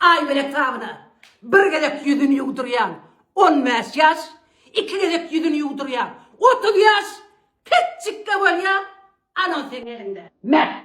Aý bilen tabyna bir gezek ýüzüni ýuwdurýan on bäş ýaş, iki gezek ýüzüni ýuwdurýan otuz ýaş petjikge bolýa anan seň eliňde. Meh.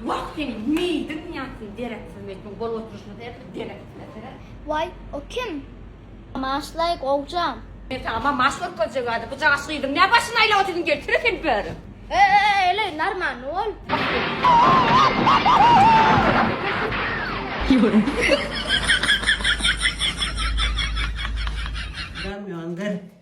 Wah seň meýdiň ýatsyn dereksiz meýdiň gol oturşyny seretme dereksizler seret. Waý o kim? Maşlaý gowjam. Men saňa ma maş görkezjek ady bu jagaş gyzyň nä başyny aýlap otyrdyn gel kire sen bäri. Eeleý narmanly bol. Ýola. Gamýon gyr.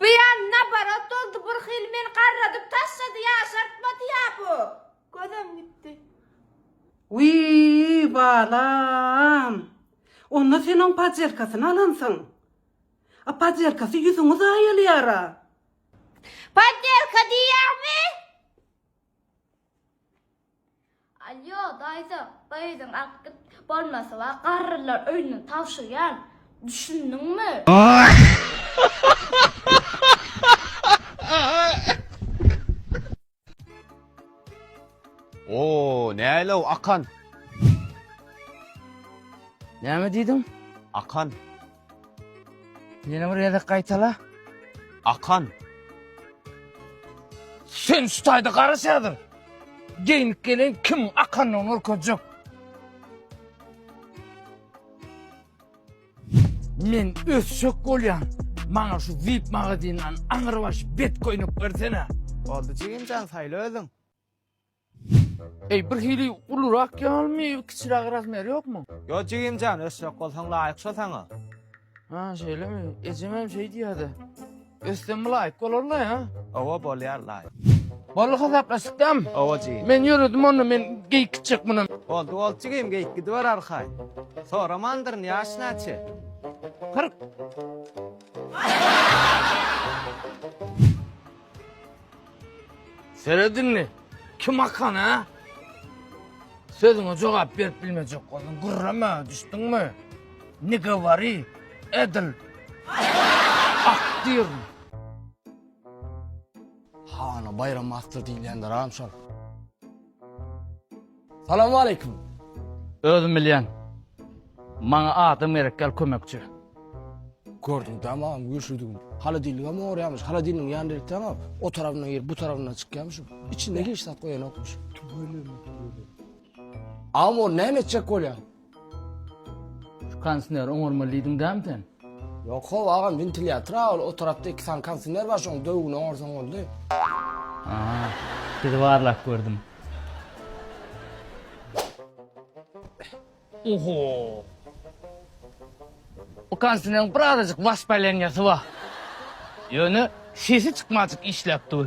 Bu ya naborot boldy bir hili meni garradyp taşlady ýaşartmady ya bu. Gözem gitdi. Wiý balam. Onda sen oň pajerkasyny alansyň. A pajerkasy ýüzüňi zaýalaýara. Pajerka diýýäňmi? Alýo, daýza, gyzyň akdyp bolmasy bar, garrylar öýüne tabşyrýan, düşündiňmi? O, nälew, Akan! Näme diýdiň? Akan. Ýene bir gezek gaýtala. Akan. Sen şu taýda garaş häzir. Geýnip gelen kim akanlygyny görkezjek. Men ösşek bolýan. Maňa şu VIP magazinden aňyrbaş bet köýnek bersene. Oldu jigimjan saýla özüň. Eý, bir hili ulurak ýalymy, kiçiräk razmer ýokmy? Ýok jigimjan, ösjek bolsaň laýyk şo saňa. Ha, şeýlemi? Ejemem şeý diýýär-de. Össem laýyk bolar-la, ýa? Owa, bolýar laýyk. Boldy, hasaplaşdyk dämi? Owa jigim. Men ýöredim onda, men geýik gitjek mundan. Boldy, boldy jigim, geýik gidiber arkaý. Soramandyryn, ýaş näçe? Kyrk. Seret indi. Kim akan ha? Sözüňe jogap berip bilmejek boldun. Gurrama, düşdüňmi? Ne govori, edil. Aktyr. Hany Baýram Aktyr diýilýändir-ä şol. Salamwaleýkim. Özüm bilýän. Maňa adam gerek gel kömekçi. Gördüm tamam güýçlüdigini. Holodilnigem ogurýamyş. Holodilnigiň ýanynda eltseňä o tarapyndan girip bu tarapyndan çykýamyş. Içinde hiç zat goýanokmyş. Tüweleme tüweleme. Agam ol näme etjek bolýar? Şu kondisneri oňarmaly diýdiň dämi sen? Ýok how agam wentilýatora ol o tarapda iki sany kondisner bar şoň döwügini oňarsaň boldy. Haa sizi barlap gördüm. Oho. Bu kondisneriň bir azajyk waspalenýasy bar. Ýöne sesi çykmajyk işläp dur.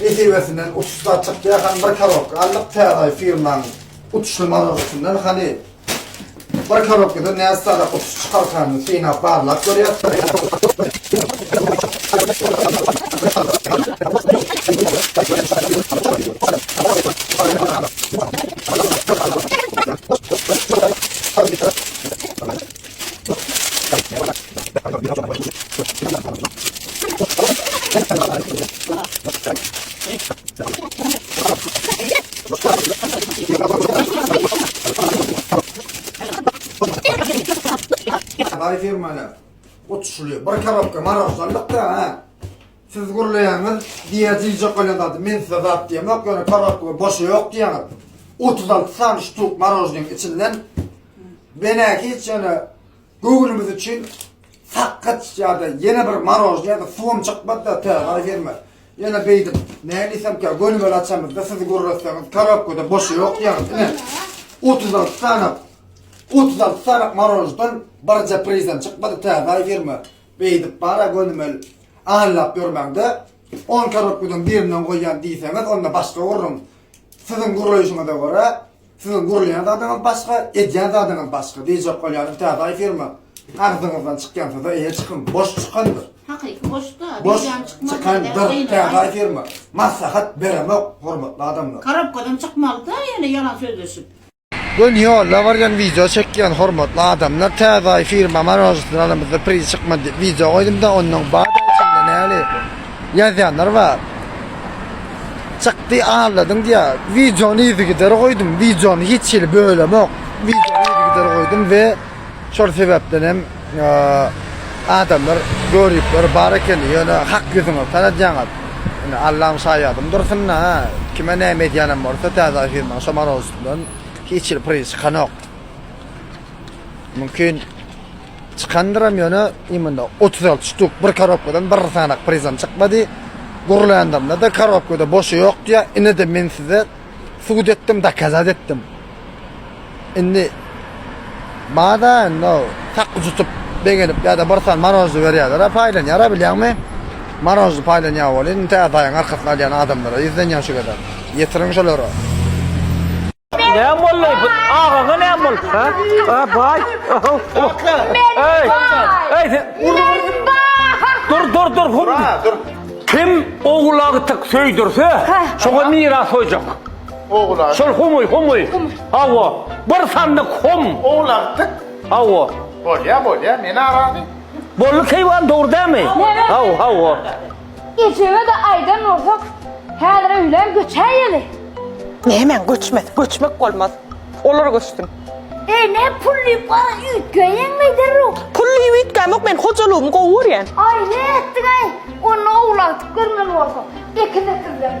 Nesibesinden uçuş zat çykýar, hany bir korobka aldyk täze firmaň uçuşly mazalysyny, hany bir korobkadan näçe sany uçuş çykarkanyny synap barlap görýäs. Haly firmana otuşuly bir karobka maroşdanlykda ha. Siz gürleýäňiz, diýýä diýjek bolýan zady men size zat diýemok, ýöne karobka boşy ýok diýýäňiz. Otuz alty sany ştuk marožnyň içinden Menä hiç ýöne göwnümiz üçin sakgyç ýa-da ýene bir marožny ýa-da suwam çykmady-da täze fermer. Ýöne beýdip nädiýsemkä gönümel açamyzda siz gürletseňiz korobkada boşy ýok diýýäňiz. Ine, otuz alty sanak, otuz alty sanak maroždan birje prizem çykmady täze fermer. Beýdip bar-a gönümel aýlap ýörmäň-de, on korobkadan birinden goýýan diýseňiz onda başga gürrüň. Siziň gürleýşiňize görä Siziň gurýan zadyňyz başga, edýän zadyňyz başga diýjek bolýarym täze firma agzyňyzdan çykýansyda eýe çykyň boş çykandyr. Hakyky boşda Boş birem çykmaz. çykandyr täze firma. Maslahat beremok hormatly adamlar. Korobkadan çykmalyda ýene ýalan sözleşip. Göni ýolda barýan wideo çekýän hormatly adamlar täze firma marojestnalymyzda priz çykmady diýip wideo goýdumda ondan bada içinde näli Ýazýanlar bar. Çykdy alladyň diýýä. Wideony yzygider goýdum. Wideony hiç hili bölemok. Wideony yzygider goýdum we şol sebäpden hem adamlar göripler bar ekeni. Ýöne hak ýüzüňizi tanadýaňyz. Ine Allam şaýadym dursun-a. Kime näme edýänem bolsa täze firma şomarowskdan hiç hili priz çykanok. Mümkin Çykandyram ýöne imunda otuz alty ştuk bir korobkadan bir sanak prizam çykmady. Gurlandymda-da korobkada boşy ýok diýýä. Ine-de men size subut etdim, dokazat etdim. Indi bada indi tak ujutyp begenip ýa-da bir san marojny berýärler-ä paýlanýar-a bilýäňmi? Marojny paýlanýar welin tä daýyň arkasyny alýan adamlar-a ýüzlenýär şu gezek. Ýetiriň şolara. Näme boldy? Bu agaga näme boldy? Ha? Ha, bay. Oho. Ey. Ey, sen Dur, dur, dur. Hum. Dur. Kim oğlağı tık söydürse, şoňa miras hoýjak. Oğlan. Şol humuy, humuy. Hawa. Bir sandyk hum. Oğlan tık. Hawa. Bolya, bolya. Men arazy. Bolly keýwan dogry dämi? Hawa, hawa. Ejeme-de aýdan bolsak, häzir öýlän göçäýeli. Nämäň göçmesi, göçmek bolmaz. Olar göçsün. Ene, pul diýip gara üýtgäýeňmi derrew? Pul diýip üýtgämok, men hojalygymy gowy görýän. Aý, ne etdiň-aý? Onda owlakdyk görmeli bolsak, ekin ekilmeli.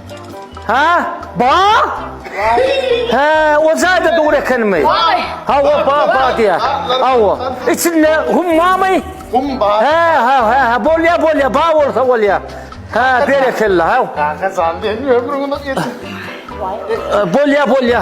Ha? Ba? He, o jaýda dur ekenmi? Hawa, ba, ba diýä. Hawa. Içinde hummamy? Hum ba. He, ha, he, he, bolýa, bolýa, ba bolsa bolýa. Ha, berekella, haw. Kaka jan, sen ömrüňi geçir. Bolýa, bolýa.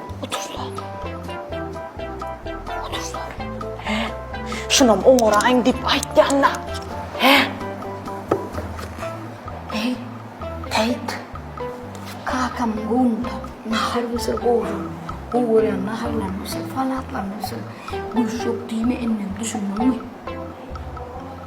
Otursana. Otursana. He? Şunam oňaraýyn diýip aýtýan-da. He? Eý, Täýt. Kakam gowunda nahar bişir gowşur. Gowarýan naharlaryny bişir, salatlaryny bişir. Gülşok diýme indem, düşündiňmi?